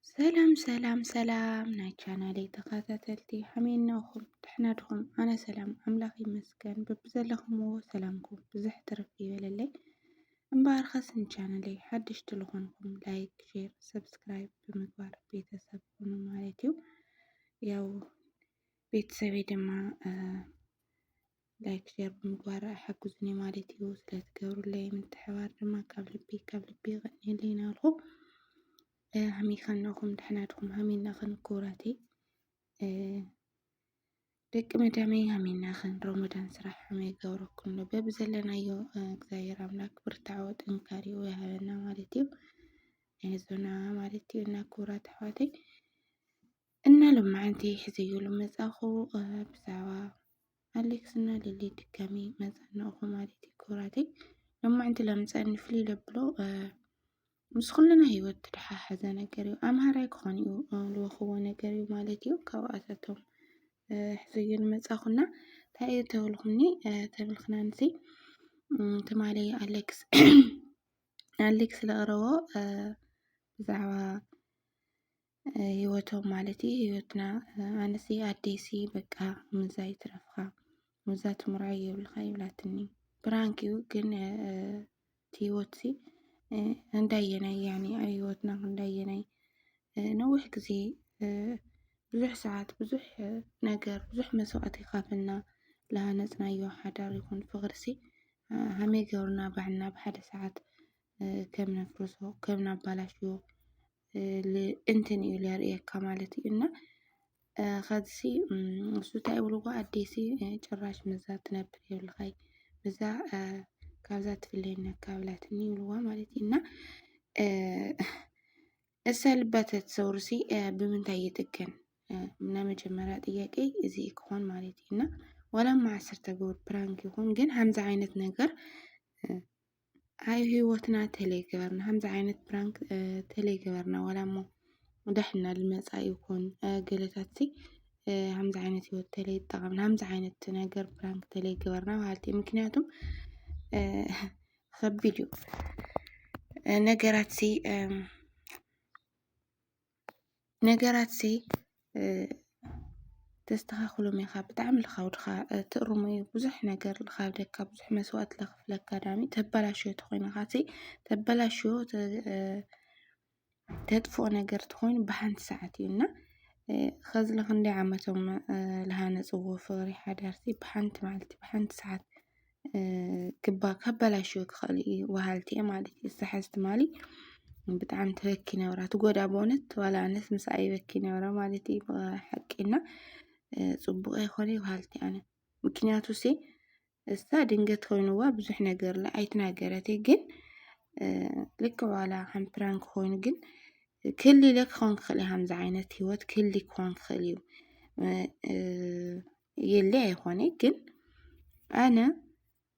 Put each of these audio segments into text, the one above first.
ሰላም ሰላም ሰላም ናይ ቻናለይ ተኸታተልቲ ሓመይ እናኹም ድሕና ድኹም ኣነ ሰላም ኣምላኽ ይመስገን በብዘለኹምዎ ሰላምኩም ብዝሕ ትርፍ ይበለለይ እምበኣር ኸስ ንቻናለይ ሓድሽ ትልኾንኩም ላይክ ሼር ሰብስክራይብ ብምግባር ቤተሰብ ኹኑ ማለት እዩ ያው ቤተሰበይ ድማ ላይክ ሸር ብምግባር ሓግዙኒ ማለት እዩ። ስለትገብሩለይ ምትሕባር ድማ ካብ ልቢ ካብ ልቢ ይቐኒየለይ ናልኹ ሃሚካ ነኹም ድሕና ድኹም ሃሚናኽን ክቡራተይ ደቂ መዳመይ ሃሚናኽን ሮሞዳን ስራሕ ሕመይ ገብረኩም ዶ በብ ዘለናዮ እግዚኣብሔር ኣምላክ ብርታዖ ጥንካሬኡ ይሃበና ማለት እዩ። ኣይዞና ማለት እዩ እና ክቡራት ኣሕዋተይ እና ሎማዓንቲ ሕዘዮ ልመፃኹ ብዛዕባ ኣሌክስ እና ሊሊ ድጋሚ መፃናኹ ማለት እዩ ክብራተይ ሎማዓንቲ ላምፃኒ ፍልይ ለብሎ ምስ ኩልና ሂወት ተደሓሓዘ ነገር እዩ ኣምሃራይ ክኾን እዩ ልወኽዎ ነገር እዩ ማለት እዩ ካብኣታቶም ሕዘዮ ንመፃኹና እንታይ እዩ ተብልኩኒ ተብልክና ንሲ ትማሊ ኣሌክስ ኣሌክስ ለቕረቦ ብዛዕባ ህይወቶም ማለት እዩ ህይወትና ኣነሲ ኣዴሲ በቃ ምዛ ይትረፍኻ ምዛ ትምርዖይ የብልኻ ይብላትኒ ብራንክ እዩ ግን እቲ ህይወትሲ እንዳየናይ ያኒ ህይወትና እንዳየናይ ነዊሕ ግዜ ብዙሕ ሰዓት ብዙሕ ነገር ብዙሕ መስዋእቲ ኻፍልና ልሃነፅናዮ ሓዳር ይኹን ፍቕርሲ ሃመይ ገይሩና ባዕልና ብሓደ ሰዓት ከም ነፍርሶ ከም ነባላሽዎ እንትን እዩ ለርእየካ ማለት እዩ እና ኸዚ እሱ እንታይ ይብልዎ ኣዴሲ ጭራሽ ምዛ ትነብር የብልኻይ ምዛ ካብዛ ትፍለየና ካብላትኒ ይብልዋ ማለት እዩ እና እሰ ልበተት ሰውርሲ ብምንታይ ይጥገን እና መጀመሪያ ጥያቄ እዚ ክኾን ማለት እዩ እና ዋላ ማዓስር ተገብር ፕራንክ ይኹን ግን ከምዚ ዓይነት ነገር ኣብ ህይወትና ተለይ ገበርና ከምዚ ዓይነት ፕራንክ ተለይ ገበርና ዋላ እሞ ዳሕና ልመፃእ ይኹን ገለታትሲ ከምዚ ዓይነት ህይወት ተለይ ጠቐምና ከምዚ ዓይነት ነገር ፕራንክ ተለይ ገበርና በሃልቲ እየ ምክንያቱ ከቢድ እዩ ነገራትሲ ነገራት ሲ ተስተኻኽሎም ኢኻ ብጣዕሚ ልኻብ ድኻ ትእርሞ እዩ ብዙሕ ነገር ልኻብ ደካ ብዙሕ መስዋእት ለኽፍለካ ዳኣሚ ተባላሽዮ ተኾይንኻሲ ተባላሽዮ ተጥፎኦ ነገር ተኾይኑ ብሓንቲ ሰዓት እዩ እና ኸዚ ለኽንደይ ዓመቶም ልሃነጽዎ ፍቕሪ ሓዳር ብሓንቲ መዓልቲ ብሓንቲ ሰዓት። ክባ ካበላሽው ክኸእሉ እዩ ወሃልቲ እየ ማለት እዩ ዝሓዝ ትማሊ ብጣዕሚ ትበኪ ነብራ ትጎዳ በእውነት ዋላ ኣነስ ምስኣ ይበኪ ነብረ ማለት እዩ ሓቂና ፅቡቕ ኣይኮነ ወሃልቲ ኣነ ምክንያቱ ሲ እሳ ድንገት ኮይኑዋ ብዙሕ ነገር ለ ኣይትናገረት ግን ልክ ዋላ ከም ፕራንክ ኮይኑ ግን ክሊ ኢለ ክኸውን ክኽእል እዩ ከምዚ ዓይነት ህይወት ክሊ ክኾን ክኽእል እዩ የለ ኣይኾነ ግን ኣነ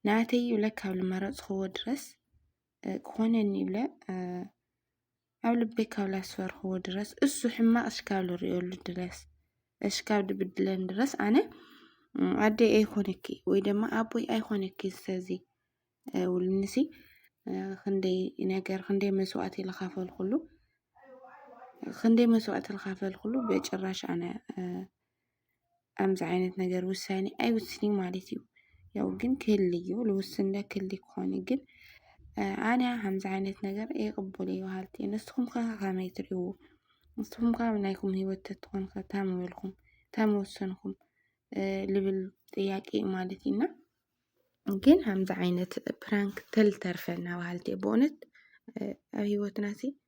ናተይ ይብለ ካብ ዝመረፅክዎ ድረስ ክኾነኒ ይብለ ኣብ ልበይ ካብ ላስፈርክዎ ድረስ እሱ ሕማቕ እሽካብ ዝሪኦሉ ድረስ እሽካብ ድብድለን ድረስ ኣነ ኣደይ ኣይኮነኪ ወይ ድማ ኣቦይ ኣይኮነኪ ዝተዚ ውልንሲ ክንደይ ነገር ክንደይ መስዋእቲ ዝኸፈልኩሉ ክንደይ መስዋእቲ ዝኸፈልኩሉ ብጭራሽ ኣነ ኣምዚ ዓይነት ነገር ውሳኔ ኣይውስን እዩ ማለት እዩ። ያው ግን ክህሊ እዩ ልውስን እንዳ ክህሊ ክኾን እዩ ግን ኣነ ከምዚ ዓይነት ነገር ኣይቕበሎ እዩ በሃልቲ እየ። ንስኹም ከ ከመይ ትሪእዎ? ንስኹም ከ ኣብ ናይኩም ሂወት ተትኾኑ ከ ታይ ምበልኩም ታይ ምወሰንኩም ልብል ጥያቄ እዩ ማለት እዩ። እና ግን ከምዚ ዓይነት ፕራንክ ተልተርፈና በሃልቲ እየ በእውነት ኣብ ሂወትና ሲ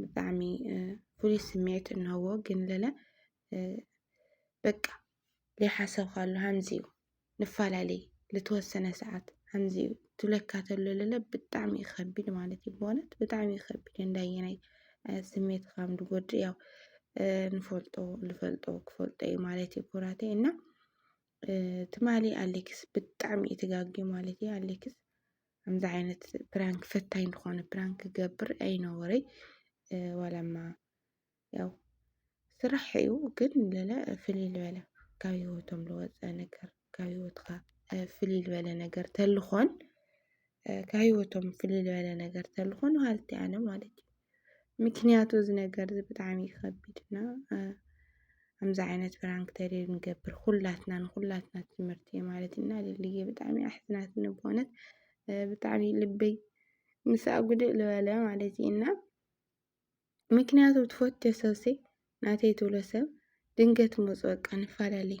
ብጣዕሚ ፍሉይ ስምዒት እንሀዎ ግን ለለ በቃ ዘይሓሰብካሉ ሃምዚ እዩ ንፋላለ ልተወሰነ ሰዓት ሃምዚ እዩ ትብለካ ተሎ ለለ ብጣዕሚ እዩ ከቢድ ማለት እዩ ብእውነት ብጣዕሚ እዩ ከቢድ እንዳየናይ ስሜት ከም ዝጎድእ ያው ንፈልጦ ልፈልጦ ክፈልጦ እዩ ማለት እዩ ኩራተይ እና ትማሊ ኣሌክስ ብጣዕሚ እዩ ተጋግዩ ማለት እዩ ኣሌክስ ከምዚ ዓይነት ፕራንክ ፈታኝ ዝኾነ ፕራንክ ክገብር ኣይነበረይ ዋላማ ያው ስራሕ እዩ ግን ለለ ፍልይ ዝበለ ካብ ህይወቶም ዝወፀ ነገር ካብ ህይወትካ ፍልይ ዝበለ ነገር ተልኾን ካብ ህይወቶም ፍልይ ዝበለ ነገር ተልኾን ሃልቲ ኣነ ማለት እዩ ምክንያቱ እዚ ነገር እዚ ብጣዕሚ እዩ ከቢድ እና ከምዚ ዓይነት ፕራንክ ተሪር ንገብር ኩላትና ንኩላትና ትምህርቲ እዩ ማለት እና ልልየ ብጣዕሚ እያ ኣሕዚናትኒ ብእውነት ብጣዕሚ ልበይ ምስኣ ጉድእ ዝበለ ማለት እዩ እና ምክንያቱ ትፈትዮ ሰብሲ ናተይ ትብሎ ሰብ ድንገት መፁ በቃ ንፈላለይ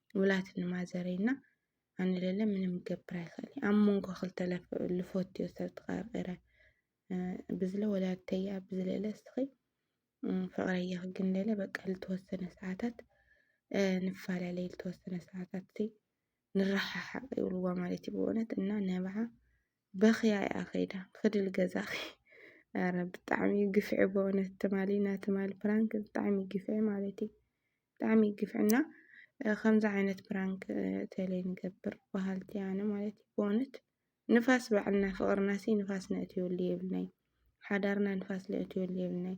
ውላት ንማዘረይ እና ኣነ ለለ ምንም ገብር ኣይክእል ኣብ መንጎ ክልተ ልፈትዮ ሰብ ተቐርቂረ ብዝለ ወላድተያ ብዝለለ ስኺ ፍቕረያ ግን ለለ በቃ ልተወሰነ ሰዓታት ንፈላለይ ልተወሰነ ሰዓታት ንረሓሓቕ ይብልዋ ማለት እዩ ብእውነት እና ነብዓ በኽያ እያ ከይዳ ብክድል ገዛኺ ኧረ ብጣዕሚ እዩ ግፍዒ በእውነት ትማሊ እና ትማሊ ፕራንክ ብጣዕሚ እዩ ግፍዒ ማለት እዩ ብጣዕሚ እዩ ግፍዒ እና ከምዚ ዓይነት ፕራንክ ተለይ ንገብር በሃልቲ ኣነ ማለት እዩ በእውነት ንፋስ ባዕልና ፍቕርና ሲ ንፋስ ነእትየሉ የብልናይ ሓዳርና ንፋስ ነእትየሉ የብልናይ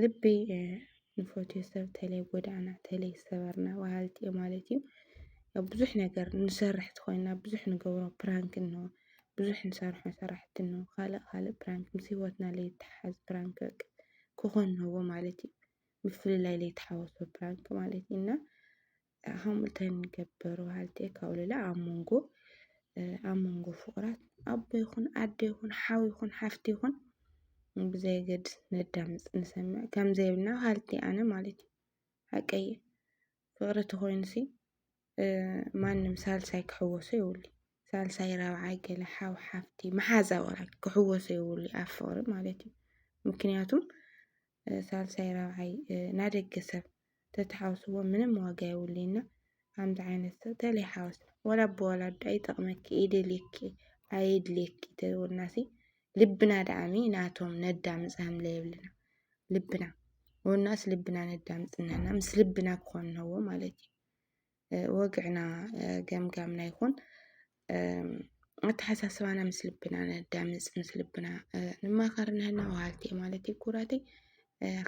ልቢ ንፈትዮ ሰብ ተለይ ጎዳእና ተለይ ሰበርና በሃልቲ እዮም ማለት እዩ። ኣብ ብዙሕ ነገር ንሰርሕ ተኾይንና ብዙሕ ንገብሮ ፕራንክ እኖ ብዙሕ ንሰርሖ ስራሕቲ እኖ ኻልእ ኻልእ ፕራንክ ምስ ሂወትና ለይተሓሓዝ ፕራንክ በቃ ክኾን እነሀዎ ማለት እዩ። ምፍልላይ ለይተሓወሶ ፕራንክ ማለት እዩ እና። ከምኡ እተን ገበሩ በሃልቲ ካብ ሉላ ኣብ መንጎ ኣብ መንጎ ፍቑራት ኣቦ ይኹን ኣደ ይኹን ሓው ይኹን ሓፍቲ ይኹን ብዘየገድስ ነዳምፅ ንሰምዕ ከምዘይብልና በሃልቲ ኣነ ማለት እዩ ሓቀይ ፍቕሪ ተኾይኑሲ ማንም ሳልሳይ ክሕወሶ የብሉ ሳልሳይ ራብዓይ ገለ ሓው ሓፍቲ መሓዛ ወላ ክሕወሶ የብሉ ኣብ ፍቕሪ ማለት እዩ ምክንያቱም ሳልሳይ ራብዓይ ናደገ ሰብ ተትሓውስዎ ምንም ዋጋ የብሉይ እና ከምዚ ዓይነት ሰብ ተለይሓወስ ወላ ብወላዲ ኣይጠቕመኪ ይደልየኪ ኣየድልየኪ ተወናሲ ልብና ደኣሚ ናቶም ነዳምፅ ሃምለ የብልና ልብና ወናስ ልብና ነዳምፅ ንሕና ምስ ልብና ክኾንነዎ ማለት እዩ ወግዕና ገምጋምና ይኹን ኣተሓሳስባና ምስ ልብና ነዳምፅ ምስ ልብና ንማኸር ንህና ወሃልቲ እየ ማለት እዩ ኩራተይ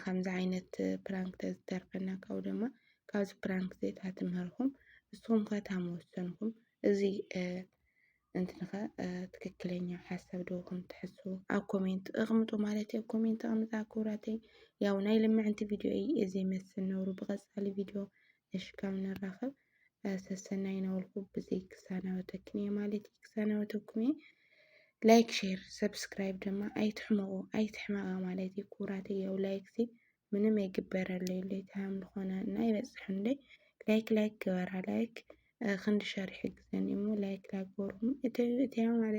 ከምዚ ዓይነት ፕራንክ ተዝተርፈና ካብኡ ድማ ካብዚ ፕራንክ ዘታ ትምህርኹም ንስኹም ከ እታ መወሰንኩም እዚ እንትንኸ ትክክለኛ ሓሳብ ደኹም ትሕስቡ ኣብ ኮሜንት እቕምጡ ማለት እዩ ኮሜንት ኣቕምጣ ኩራተይ ያው ናይ ልምዕንቲ ቪድዮ እዩ እዚ መስል ነውሩ ብቐፃሊ ቪድዮ እሽ ካብ ንራኸብ ሰሰናይ ናበልኩ ብዘይ ክሳናበተክን እየ ማለት እዩ ክሳናበተኩም እየ ላይክ ሼር ሰብስክራይብ ድማ ኣይትሕመቑ ኣይትሕመቓ ማለት እዩ ኩራት እየው ላይክ ሲ ምንም ኣይግበረለይ ለይ ታም ዝኾነ እና ይበፅሕንለይ ላይክ ላይክ ግበራ ላይክ ክንዲ ሸር ይሕግዘኒ እሞ ላይክ ላይክ ገበርኩም እተዩ እተያ ማለት